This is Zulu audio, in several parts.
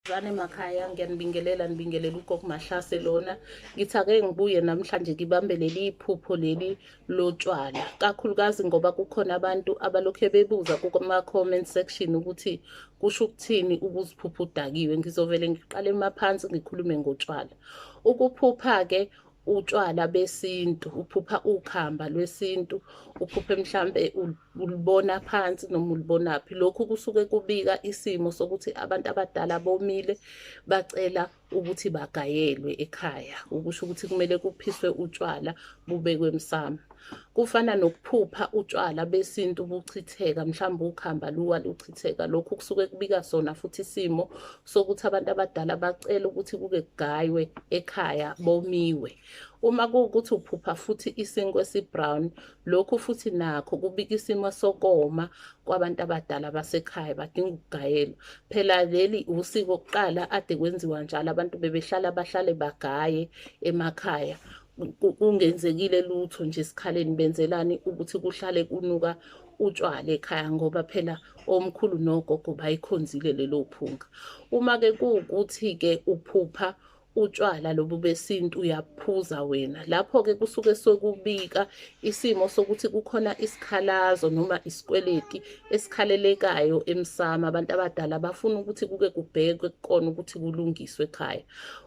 Zwane emakhaya ngiyanibingelela nibingelela ugogo Mahlase lona ngithi ake ngibuye namhlanje ngibambe leli iphupho leli lotshwala kakhulukazi ngoba kukhona abantu abalokhe bebuza kuma comment section ukuthi kusho ukuthini ukuziphupha udakiwe ngizovele ngiqale maphansi ngikhulume ngotshwala ukuphupha ke utshwala besintu uphupha ukhamba lwesintu uphuphe mhlambe ulibona phansi noma ulibona phi lokhu kusuke kubika isimo sokuthi abantu abadala bomile bacela ukuthi bagayelwe ekhaya ukusho ukuthi kumele kuphiswe utshwala bubekwe emsamo kufana nokuphupha utshwala besintu buchitheka mhlawumbe ukhamba luwa luchitheka lokhu kusuke kubika sona futhi isimo sokuthi abantu abadala bacela ukuthi kuke kugaywe ekhaya bomiwe uma kuwukuthi uphupha futhi isinkwe esibrown lokhu futhi nakho kubika isimo sokoma kwabantu abadala basekhaya badinga ukugayelwa phela leli usiko kuqala ade kwenziwa njalo abantu bebehlala bahlale bagaye emakhaya kungenzekile lutho nje esikhaleni benzelani ukuthi kuhlale kunuka utshwala ekhaya ngoba phela omkhulu nogogo bayikhonzile lelo phunga uma-ke kuwukuthi-ke uphupha utshwala lobu besintu uyaphuza wena lapho-ke kusuke sokubika isimo sokuthi kukhona isikhalazo noma isikweleti esikhalelekayo emsamo abantu abadala bafuna ukuthi kuke kubhekwe kukona ukuthi kulungiswe ekhaya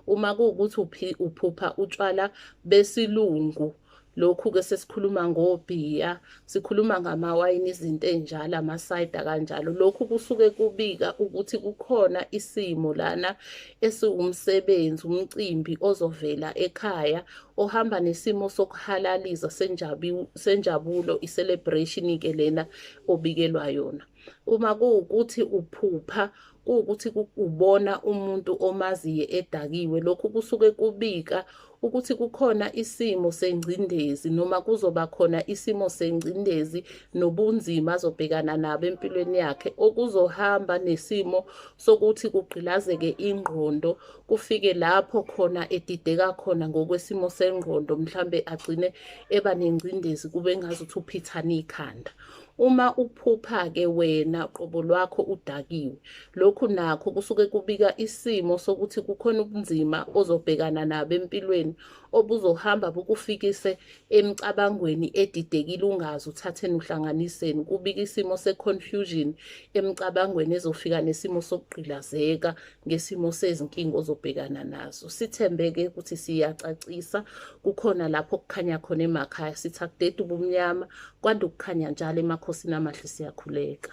Uma kuwukuthi uphi uphupha utshwala besilungu lokhu-ke sesikhuluma ngobhiya sikhuluma ngamawayini izinto ey'njalo amasayida kanjalo lokhu kusuke kubika ukuthi kukhona isimo lana esiwumsebenzi umcimbi ozovela ekhaya ohamba nesimo sokuhalaliza senjabulo i-celebration-ke lena obikelwa yona uma kuwukuthi uphupha kuwukuthi kubona umuntu omaziyo edakiwe lokhu kusuke kubika ukuthi kukhona isimo sengcindezi noma kuzoba khona isimo sengcindezi nobunzima azobhekana nabo empilweni yakhe okuzohamba nesimo sokuthi kugqilazeke ingqondo kufike lapho khona edideka khona ngokwesimo sengqondo mhlambe agcine eba nengcindezi kube ngazuthi uphithana ikhanda Uma uphupha-ke wena qobo lwakho udakiwe, lokhu nakho kusuke kubika isimo sokuthi kukhona ubunzima ozobhekana nabo empilweni obuzohamba bukufikise emicabangweni edidekile ungazi uthatheni uhlanganiseni. Kubika isimo se-confusion emicabangweni ezofika nesimo sokugqilazeka ngesimo sezinkinga ozobhekana nazo sithembeke ukuthi siyacacisa kukhona lapho kukhanya khona emakhaya sithi akudede ubumnyama kwanda ukukhanya njalo emakhosini amahle siyakhuleka